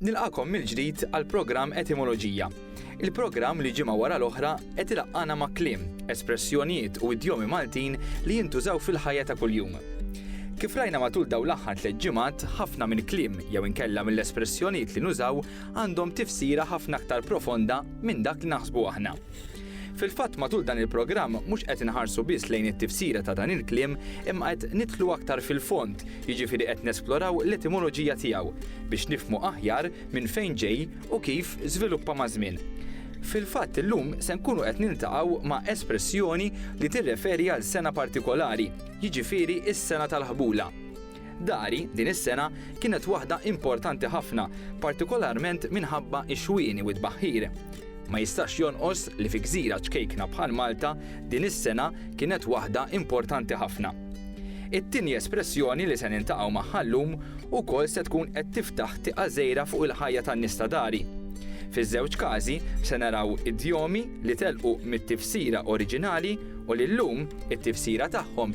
Nilqakom mill-ġdid għall-programm Etimoloġija. Il-programm li ġimgħa wara l-oħra qed ilaqqana ma' kliem, espressjonijiet u idjomi Maltin li jintużaw fil-ħajja ta' kuljum. Kif rajna matul daw l-aħħar tliet ġimgħat, ħafna minn kliem jew inkella mill-espressjonijiet li nużaw għandhom tifsira ħafna aktar profonda minn dak li naħsbu aħna. Fil-fatt matul dan il-programm mhux qed inħarsu biss lejn it-tifsira ta' dan il-kliem imma qed nidħlu aktar fil-fond, jiġifieri qed nesploraw l-etimoloġija tiegħu biex nifhmu aħjar minn fejn ġej u kif żviluppa maż-żmien. Fil-fatt illum se nkunu qed niltaqgħu ma' espressjoni li tirreferi għal sena partikolari, jiġifieri s-sena tal-ħbula. Dari, din is-sena, kienet waħda importanti ħafna, partikolarment minħabba x-xwieni u t-tbaħħir. Ma jistax jonqos li fi gżira ċkejkna bħal Malta, din is-sena kienet waħda importanti ħafna. It-tieni espressjoni li se niltaqgħu magħha llum ukoll se tkun qed tiftaħ tieqa żgħira fuq il-ħajja tan-nies ta' Dari. Fiż-żewġ każi se naraw idjomi li telqu mit-tifsira oriġinali u li llum it-tifsira tagħhom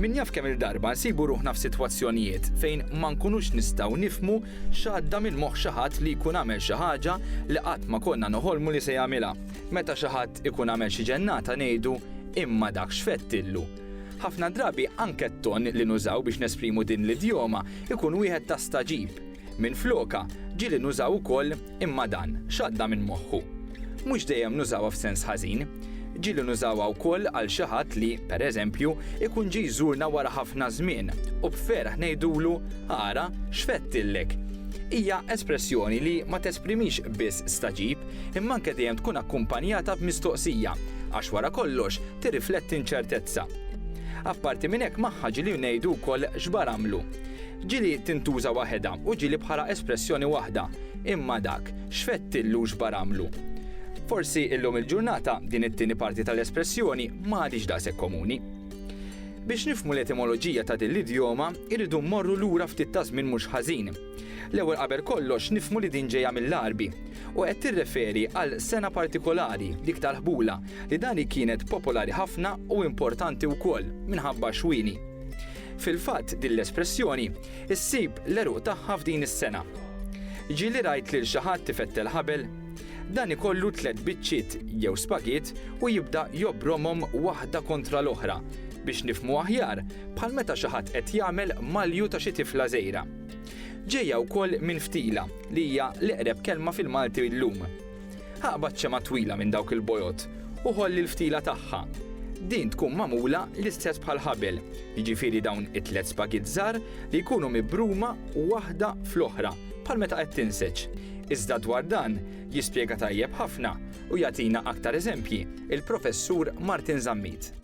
Min jaf kemm il-darba nsibu ruħna f'sitwazzjonijiet fejn ma nkunux nistgħu nifmu x'għadda minn moħħ xi ħadd li jkun għamel xi ħaġa li qatt ma konna noħolmu li se jagħmilha. Meta xi ħadd ikun għamel xi ġennata ngħidu, imma dak x'fettillu. Ħafna drabi anke t-ton li nużaw biex nesprimu din l-idjoma jkun wieħed ta' stagħġib. Minflokha, ġieli nużaw ukoll imma dan, x'għadda minn moħħu. Mhux dejjem nużawha f'sens ħażin. Ġieli nużawha wkoll għal xi ħadd li, per eżempju, ikun ġie jżurna wara ħafna żmien u b'ferħ ngħidulu, ara, x'fedtillek! Hija espressjoni li ma tesprimix biss stagħġib imma anke dejjem tkun akkumpanjata b'mistoqsija għax wara kollox tirrifletti nċertezza. Apparti minn hekk magħha ġieli ngħidu wkoll x'bar għamlu. Ġieli tintuża waħedha u ġieli bħala espressjoni waħda, imma dak, x'fettillu x'baramlu. Forsi illum il-ġurnata din it-tieni parti tal-espressjoni ma għadhiex daqshekk komuni. Biex nifhmu l-etimoloġija ta' din l-idjoma, irridu mmorru lura ftit ta' żmien mhux ħażin. L-ewwel qabel kollox nifhmu li din ġejja mill-Għarbi, u qed tirreferi għal sena partikolari, dik tal-ħbula, li dani kienet popolari ħafna u importanti wkoll minħabba x-xwieni. Fil-fatt din l-espressjoni ssib l-għeruq tagħha f'din is-sengħa. Ġieli rajt lil xi ħadd ifettel ħabel? Dan ikollu tliet biċċiet jew spagiet u jibda jobbromhom waħda kontra l-oħra, biex nifhmu aħjar, bħal meta xi ħadd qed jagħmel malju ta' xi tifla żgħira. Ġejja wkoll minn ftila, li hija l-eqreb kelma fil-Malti llum. Aqbad xema twila minn dawk il-bojod u ħolli l-ftila tagħha. Din tkun magħmula l-istess bħal ħabel, jiġifieri dawn it-tliet spagitt żgħar li jkunu mibruma waħda fl-oħra bħal meta qed tinseġ. Iżda dwar dan jispjega tajjeb ħafna u jagħtina aktar eżempji il-Professur Martin Zammit.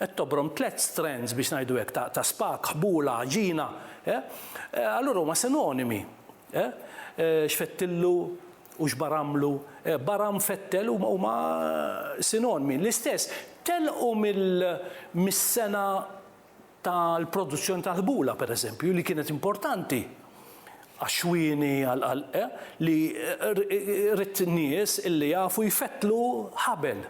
Qed tobrom tliet strands, biex ngħidu hekk, ta', ta spak, ħbula, għaġina, eh? eh allura huma sinonimi. Eh? eh xfettillu u xbaramlu, eh, baram fettel huma huma sinonimi. L-istess, telqu mill-sena tal-produzzjoni tal-ħbula, per eżempju, li kienet importanti għaxwini għal-qalqe eh, li rrit nies illi jafu jfettlu ħabel.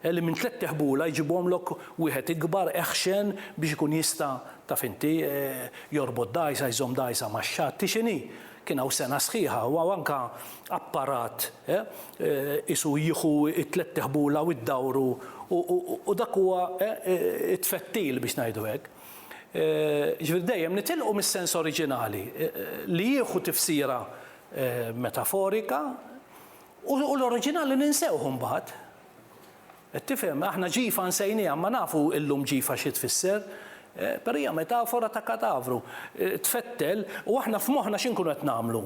Li minn tlett teħbula jġibhomlok wieħed ikbar, eħxen, biex ikun jista', taf inti, jorbot dgħajsa, jżomm dgħajsa max-xatt. Hi x'inhi? Kien hawn sengħa sħiħa u hawn anke apparat, eh, qisu jieħu t-tlett teħbula u jdawru u dak huwa, eh, it-tfettil, biex ngħidu hekk. Jiġifieri dejjem nitilqu mis-sens oriġinali, li jieħu tifsira metaforika, u l-oriġinali ninsewh imbagħad. Qed tifhem? Aħna ġifa nsejniha, imma nafu llum ġifa xi tfisser. Però hija metafora ta' katavru. Tfettel, u aħna f'moħħna xi nkunu qed nagħmlu?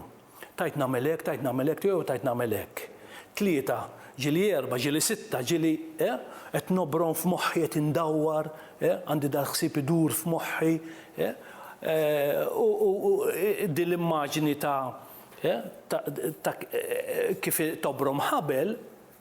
Tajt nagħmel hekk, tajt nagħmel hekk, jew tajt nagħmel hekk. Tlieta, ġieli erba', ġieli sitta, ġieli, eh? Qed nobron f'moħħi, qed indawwar, eh? Għandi dal-ħsieb idur f'moħħi, eh? U din l-immaġni ta', eh? Ta' kif tobrom ħabel,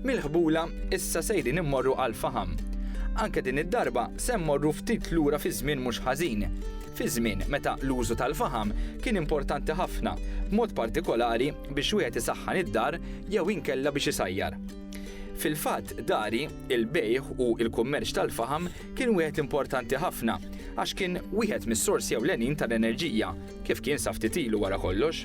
Mill-ħbula, issa sejrin immorru għall-faħam. Anke din id-darba se mmorru ftit lura fi żmien mhux ħażin. Fi żmien meta l-użu tal-faħam kien importanti ħafna, b'mod partikolari biex wieħed isaħħan id-dar jew inkella biex isajjar. Fil-fatt, dari, il-bejgħ u l-kummerċ tal-faħam kien wieħed importanti ħafna għax kien wieħed mis-sorsi ewlenin tal-enerġija, kif kien sa ftit ilu wara kollox.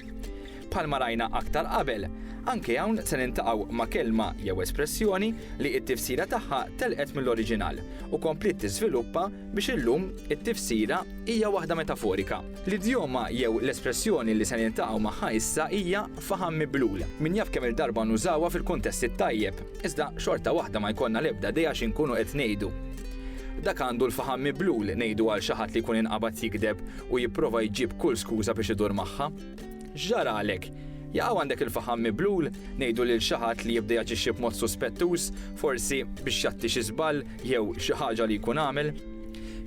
Bħalma rajna aktar qabel, anke hawn se niltaqgħu ma' kelma jew espressjoni li t-tifsira tagħha telqet mill-oriġinal u kompliet tiżviluppa biex illum it-tifsira hija waħda metaforika. L-idjoma jew l-espressjoni li se niltaqgħu magħha issa hija faħam miblul. Min jaf kemm-il darba nużawha fil-kuntest it-tajjeb, iżda xorta waħda ma jkollna l-ebda idea xi nkunu qed ngħidu. Dak għandu l-faħam miblul ngħidu għal xi ħadd li jkun inqabad jigdeb u jipprova jġib kull skuża biex idur magħha. X'ġaralek? Jaqaw għandek il-faħam miblul? Ngħidu lil xi ħadd li jibda jaġixxi b'mod suspettuż, forsi biex jgħatti xi żball jew xi ħaġa li jkun għamel?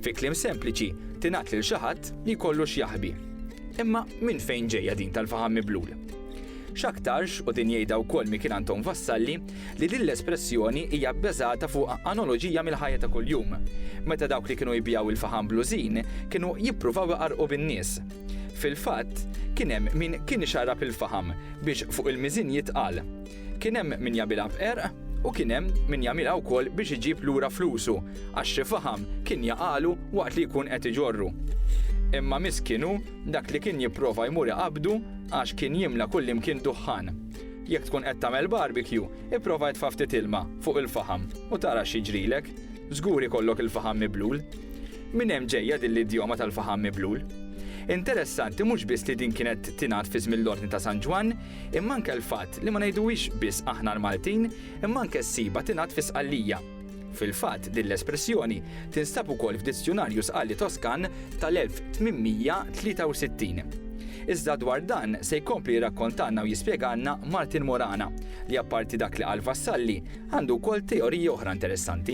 Fi kliem sempliċi, tingħad lil xi ħadd li jkollu x'jaħbi. Imma minn fejn ġejja din tal-faħam miblul? X'aktarx, u din jgħidha wkoll Mikil Anton Vassalli, li din l-espressjoni hija bbeżata fuq anoloġija mill-ħajja ta' kuljum, meta dawk li kienu jbiegħu l-faħam blużin kienu jippruvaw iqarrqu bin-nies. Fil-fatt, kien hemm min kien ixarrab il-faħam biex fuq il-miżien jitqal. Kien hemm min jagħmilha b'qerq u kien hemm min jagħmilha wkoll biex iġib lura flusu għax xi faħam kien jaqagħlu waqt li jkun qed iġorru. Imma miskin hu dak li kien jipprova jmur iqabbdu għax kien jimla kullimkien duħħan. Jekk tkun qed tagħmel barbecue, ipprova itfa' ftit ilma fuq il-faħam u tara x'jiġrilek. Żgur ikollok il-faħam miblul. Minn hemm ġejja din l-idjoma tal-faħam miblul. Interessanti mhux biss li din kienet tingħad fi żmien l-Ordni ta' San Ġwann, imma anke l-fatt li ma ngħiduhiex biss aħna l-Maltin, imma anke ssibha tingħad fi Sqallija. Fil-fatt, din l-espressjoni tinstab ukoll f'Dizjunarju Sqalli Toskan tal-1863. Iżda dwar dan se jkompli jirrakkontalna u jispjegalna Martin Morana, li apparti dak li qal Vassalli, għandu wkoll teoriji oħra interessanti.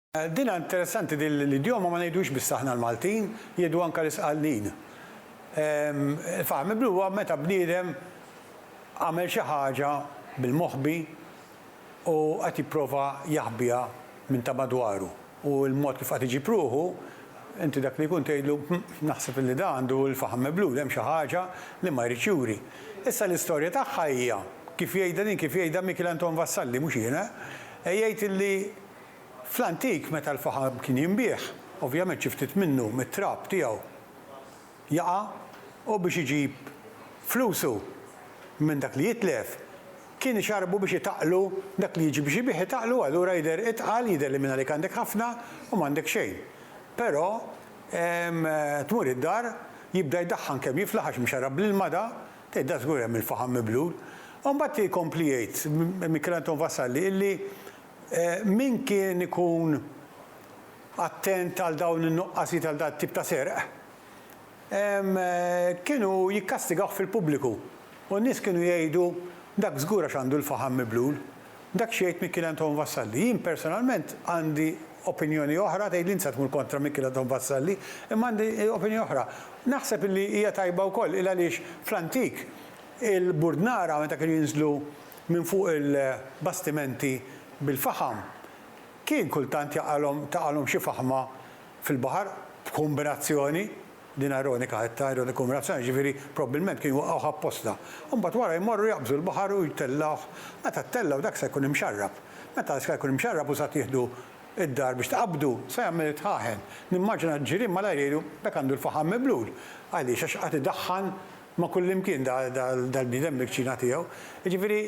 Dinha interessanti din l-idjoma ma ngħidux biss aħna l-Maltin, jgħidu anke l-Isqallin. Faħmiblu huwa meta bniedem għamel xi ħaġa bil-moħbi u qed jipprova jaħbiha minn ta' madwaru u l-mod kif qed iġib ruħu, inti dak li jkun tgħidlu, hm, naħseb illi da għandu l-faħam miblul, hemm xi ħaġa li ma jridx juri. Issa l-istorja tagħha hija, kif jgħidha din kif jgħidha Mikiel Anton Vassalli, mhux jien eh, jgħid illi Fl-antik meta l-faħam kien jinbiegħ, ovvjament xi ftit minnu mit-trab tiegħu jaqa' u biex iġib flusu minn dak li jitlef kien ixarrbu biex itaqqlu dak li jiġi biex ibigħ itaqqlu allura jidher itqal jidher li mingħalik għandek ħafna u m'għandek xejn. Però tmur id-dar jibda jdaħħan kemm jiflaħ għax mxarrab bl-ilma da, tgħid da żgur hemm il-faħam miblul. U mbagħad ikompli jgħid Michelanton Vassalli illi Min kien ikun attent għal dawn in-nuqqasijiet għal dat-tip ta' serq, kienu jikkastigawh fil-pubbliku, u n-nies kienu jgħidu, Dak żgur għax għandu l-faħam miblul. Dak x'jgħid Mikiel Anton Vassalli? Jien personalment għandi opinjoni oħra, tgħidli int se tmur kontra Mikiel Anton Vassalli, imma għandi opinjoni oħra. Naħseb illi hija tajba wkoll, il-għaliex fl-antik il-burdnara meta kienu jinżlu minn fuq il-bastimenti bil-faħam, kien kultant jaqalhom taqalhom xi faħma fil-baħar b'kumbinazzjoni, din ironika qed ta' ironika kumbinazzjoni, jiġifieri probbilment kienu jwaqqgħuh apposta. U mbagħad wara jmorru jaqbżu l-baħar u jtellgħuh. Meta ttellgħu dak se jkun imxarrab. Meta dak se jkun imxarrab u sa tieħdu d-dar biex tqabbdu, se jagħmel it-tħaħen. Nimmaġina l-ġirien malajr jgħidu, 'Dak għandu l-faħam miblul. Għaliex? Għax qagħad idaħħan Ma' kullimkien dal-bniedem mill-kċina tiegħu. Jiġifieri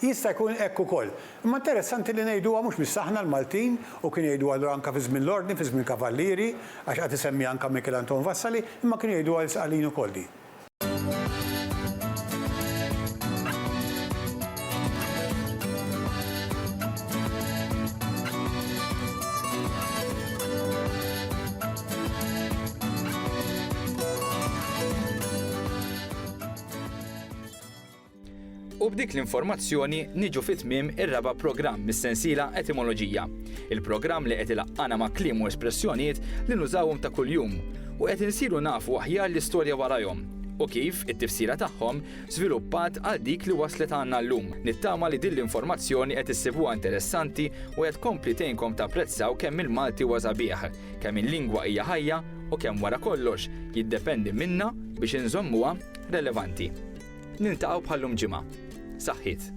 jista' jkun hekk ukoll. Imma interessanti li ngħiduha mhux biss aħna l-Maltin u kienu jgħiduha allura anke fi żmien l-Ordni, fi żmien Kavallieri, għax qagħad isemmiha anke Michael Anton Vassali, imma kienu jgħiduha l-Sqallin ukoll din. U b'dik l-informazzjoni niġu fit-tmiem ir-raba' programm mis-sensiela Etimoloġija. Il-programm li qed ilaqqana ma' kliem u espressjonijiet li nużawhom ta' kuljum u qed insiru nafu aħjar l-istorja warajhom u kif it-tifsira tagħhom żviluppat għal dik li waslet għandna llum. Nittama li din l-informazzjoni qed issibuha interessanti u qed tkompli tgħinkom tapprezzaw kemm il-Malti huwa sabiħ, kemm il-lingwa hija ħajja u kemm wara kollox jiddependi minna biex inżommuha relevanti. Niltaqgħu bħal-lum ġimgħa. Saħħiet.